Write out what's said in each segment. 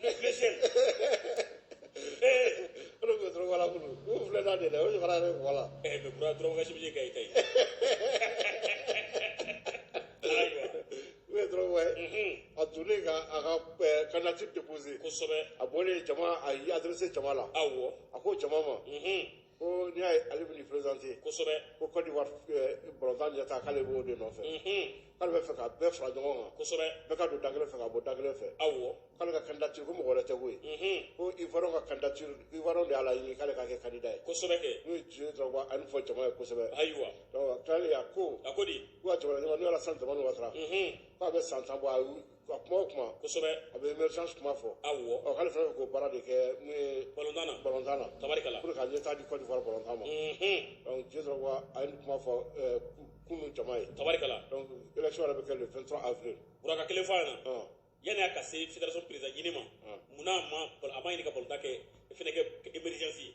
Bleu ciel. Eh, Olu bɛ Drogba la kunu. U filɛ n'a de la, o de fana bɛ voilà. eh, mais Bura Drogba ka chemise ka ɲi i ta ye. Ayiwa. Didier Drogba. A donnen ka a ka eh, candidature déposer. Kosɛbɛ. A bɔlen jama, a y'i adressé jama la. Awɔ. A ko jama ma, Mhm. ko n'i y'a ye ale bɛ nin présenter kosɛbɛ ko Côte d'Ivoire eh, balontan ɲɛtaa k'ale b'o de nɔfɛ mhm. k'ale bɛ fɛ ka bɛɛ fara ɲɔgɔn kan kosɛbɛ bɛɛ ka don da kelen fɛ ka bɔ da kelen fɛ awɔ k'ale ka candidature ko mɔgɔ wɛrɛ tɛ koyi mhm. ko Ivoiriens ka candidature Ivoiriens de y'a laɲini k'ale ka kɛ candidat ye kosɛbɛ kɛ n'o ye Didier Drogba a nin fɔ jama ye kosɛbɛ ayiwa donc tilalen a ko a ko di ko ka jamana ɲɛmaa n'o ye Alassane Dramane Ouattara mhm. k'a bɛ san tan bɔ a ka kuma o kuma kosɛbɛ a bɛ émergence kuma fɔ awɔ ɔ k'ale fana bɛ k'o baara de kɛ mun ye balontan na balontan na tabarikala pour que ka ɲɛtaa di Côte d'Ivoire balontan ma Mhm. donc Didier Drogba a ye nin kuma fɔ ɛɛ, kunu jama ye tabarikala donc élection yɛrɛ bɛ kɛ le 23 avril Bura ka kelen fɔ an ɲɛ na ɔn yanni a ka se fédération président ɲini ma Hum. munna a ma a ma ɲini ka balontan kɛ fɛnɛ kɛ émergence ye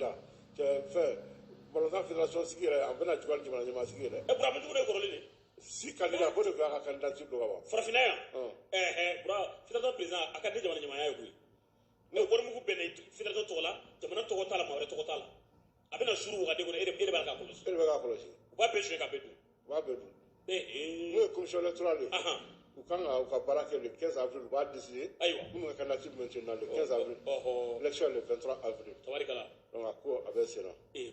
da cɛ fɛn balontan fédération sigi yɛrɛ a bɛna juguya jamana ɲɛmaa sigi yɛrɛ ɛ Bura mun jugu de kɔrɔlen de six candidats ko de tun y'a ka candidature don ka ban farafinna yan ɛɛ Bura fédération président a ka di jamana ɲɛmaaya ye koyi mais warimugu bɛ na fédération tɔgɔ la jamana tɔgɔ t'a la maa wɛrɛ tɔgɔ t'a la a bɛna suuru wagande kɔnɔ e de b'a k'a kɔlɔsi e de bɛ k'a kɔlɔsi u b'a bɛɛ suɲɛ ka bɛɛ dun u b'a bɛɛ dun n'o ye commission électorale ye u kan ka u ka baara kɛ le 15 avril u b'a décider ayiwa minnu ka candidature bɛ maintenant le 15 avril élection le 23 avril tabarikala donc a ko a bɛ sen na ee